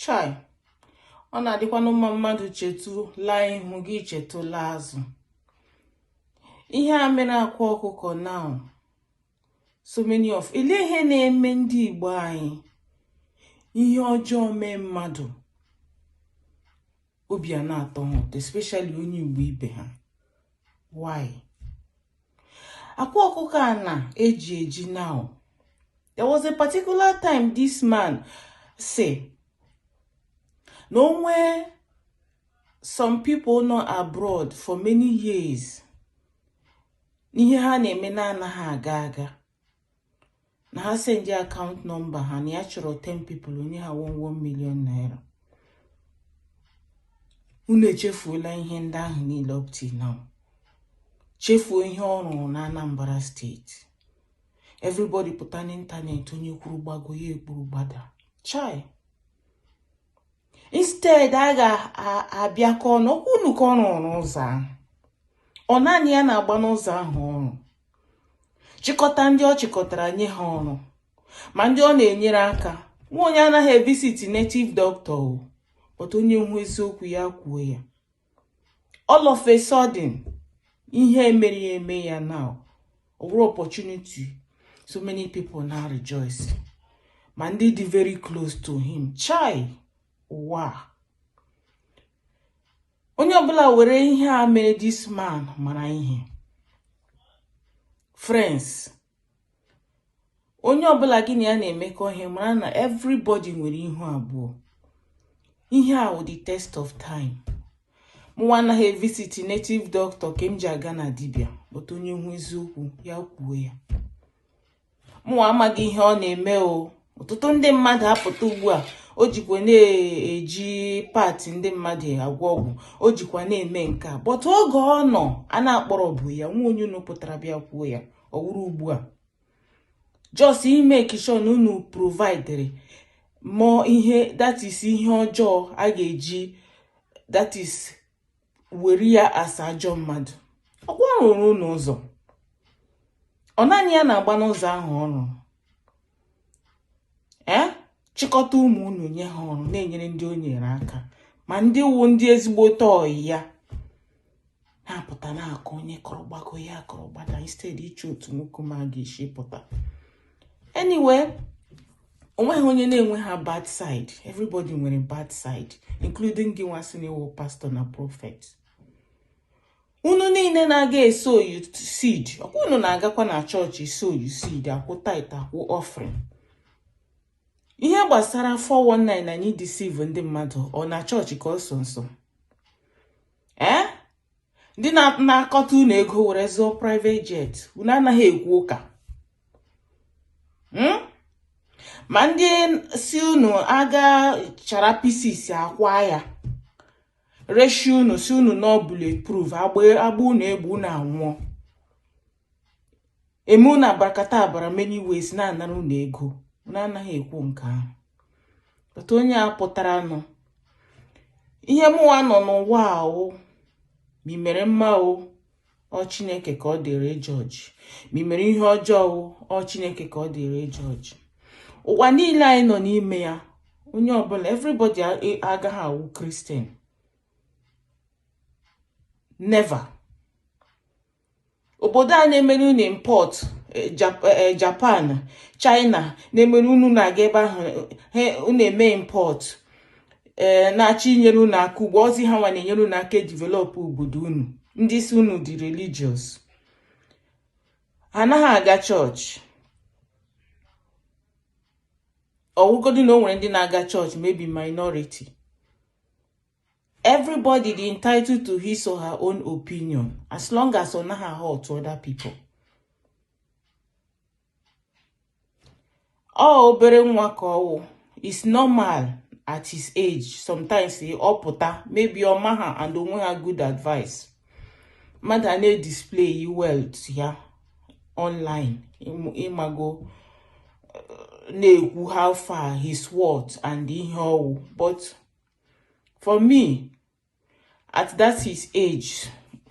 chai ọ na-adịkwanụ mma mmadụ chetụ laa ihu gị chetụ laa azụ ihe a mere akwa ọkụkọ now so many of ile ihe na-eme ndị Igbo anyị ihe ọjọọ mee mmadụ obi ana-atọ ha ụtọ especially onye Igbo ibe ha why akwa ọkụkọ a na-eji eji now there was a particular time this man sị na o nwee some people nọ abroad for many years na ihe ha na-eme na-anaghị aga aga na ha sendị account number ha na ya chọrọ 10 people o nye ha 1 1 million naira unu echefuola ihe ndị ahụ niile up till now chefuo ihe ọ rụrụ na Anambra state everybody pụta n'ịntanetị onye kwuru gbago ya ekwuru gbada chai instead a ga-abịakọ ọnụ ọkwa unu ka ọ rụrụ ụzọ ahụ ọ naanị ya na-agba n'ụzọ ahụ ọ rụrụ chịkọta ndị ọ chịkọtara nye ha ọrụ ma ndị ọ na-enyere aka nwa onye anaghị evisit native doctor o but onye hụ eziokwu ya kwuo ya all of a sudden ihe e mere ya eme ya now ọ wụrụ opportunity so many people na-arejoice ma ndị dị very close to him chai ụwa onye ọbụla were ihe a mere this man mara ihe friends onye ọbụla gị na ya na-emekọ ihe mara na everybody nwere ihu abụọ ihe a wụ the test of time mụnwa anaghị evisit native doctor nke m ji aga na dibịa but onye hụ eziokwu ya kwuo ya mụ amaghị ihe ọ na-eme o ọtụtụ ndị mmadụ apụta ugbu a o jikwa na-eji part ndị mmadụ agwọ ọgwụ o jikwa na-eme nke a but oge ọ nọ a na-akpọrọbu ya o nwe onye unu pụtara bịa kwuo ya ọ wụrụ ugbu a just imake sure na unu providere more ihe that is ihe ọjọọ a ga-eji that is were ya as ajọ mmadụ ọkwa ọ rụrụ unu ụzọ ọ naanị ya na-agba n'ụzọ ahụ ọ rụrụ ee eh? chịkọta ụmụ unu nye ha ọrụ na-enyere ndị o nyere aka ma ndị wụ ndị ezigbote ọyị ya na-apụta na-akọ onye kọrọ gbago ya kọrọ gbada instead iche otu nwoke m a ga-esi pụta anyway onweghị onye na-enweha bad side everybody nwere bad side including gị nwa sị na ị wụ pastọ na prọfet unu niile na-aga esowu seed ọkwa unu na-agakwa na chọọchị esowu seed akwụ tithe akwụ offering ihe gbasara 419 na ịdeceive ndị mmadụ ọ na chọọchị ka ọ sọ nsọ ee eh? ndị na-akọta unu ego were zụọ private jet unu anaghị ekwu ụka hmm? ma ndị si unu aga chara pieces akwa ya reshi unu sị unu na ọ bullet proof a gbaa unu egbe unu anwụọ eme unu abracadabra many ways na-anara unu ego unu anaghị ekwu nke ahụ but onye a pụtara nụ ihe mụwa nọ n'ụwa wụ ma ị mere mma o ọ chineke ka ọ dịrị ịjudge ma ị mere ihe ọjọọ o ọ chineke ka ọ dịrị ịjudge ụwa niile anyị nọ n'ime ya onye ọbụla everybody agaghị awụ kristian never obodo a na-emere unu impọt eh, eh, japan china na-emere unu na-aga ebe ahụ unu eme impọt ee eh, na-achọ inyere unu aka ugbu a ọ zị ha nwa na-enyere unu aka edivelopụ obodo unu ndị sị unu dị religious ha anaghị aga chọọchị ọwụgodu na o nwere ndị na-aga chọọchị maybe minority everybody dị entitled to his or her own opinion as long as ọ naghị ahurt other people ọ obere nwa ka ọwụ is normal at his age sometimes ọ pụta maybe ọ maha and o nweha good advice mmadụ a na-edisplay wealth ya online ịmago uh, na-ekwu how far he's worth and ihe ọwụ but for me at that his age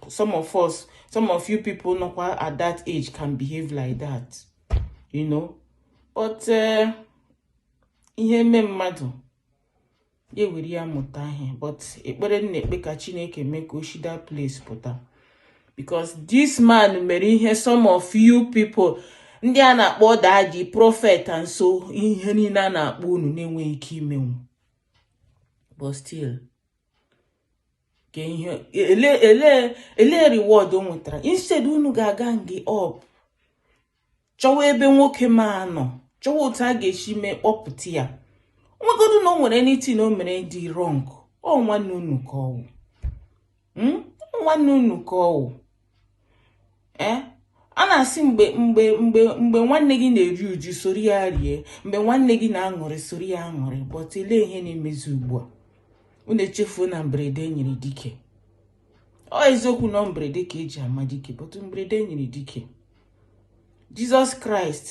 some of us some of you people nọkwa at that age can behave like that you know but uh, ihe mee mmadụ ya ewere ya mụta ihe but ekpere m na-ekpe ka chineke mee ka o shi that place pụta because this man mere ihe some of you people ndị a na-akpọ daddy prophet and so ihe niile a na-akpọ unu na-enweghị ike imenwu but still ka ihe ele reward o nwetara instead unu ga-agang up chọwa ebe nwoke m a nọ chọwa otu a ga-esi mee kpọpụta ya nwegodu na o nwere anything o mere dị wrong ọ nwanne unu ka ọwụ hmm? nwanne unu ka ọ wụ eh? a na-asị mgbe nwanne gị na-eri uju soro ya rie mgbe nwanne gị na-aṅụrị soro ya aṅụrị but elee ihe na-emezi ugbu a unu echefuo na mberede nyere dike ọ eziokwu na mberede ka e ji ama dike but mberede nyere dike Jesus Christ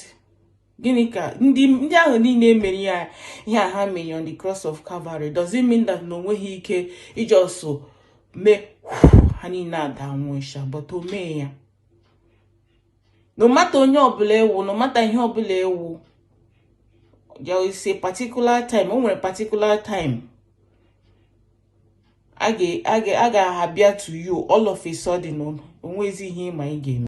gịnị ka ndị ndị ahụ niile mere ya ihe ha mere on the cross of Calvary does it mean that na o nweghị ike ị just mee ha niile adaa nwụsha but o mee ya no matter onye ọbụla ị wụ no matter ihe ọbụla ị wụ there is a particular time o nwere particular time a ga-abịa to you all of a sudden o nwezi ihe ị ma ị ga-eme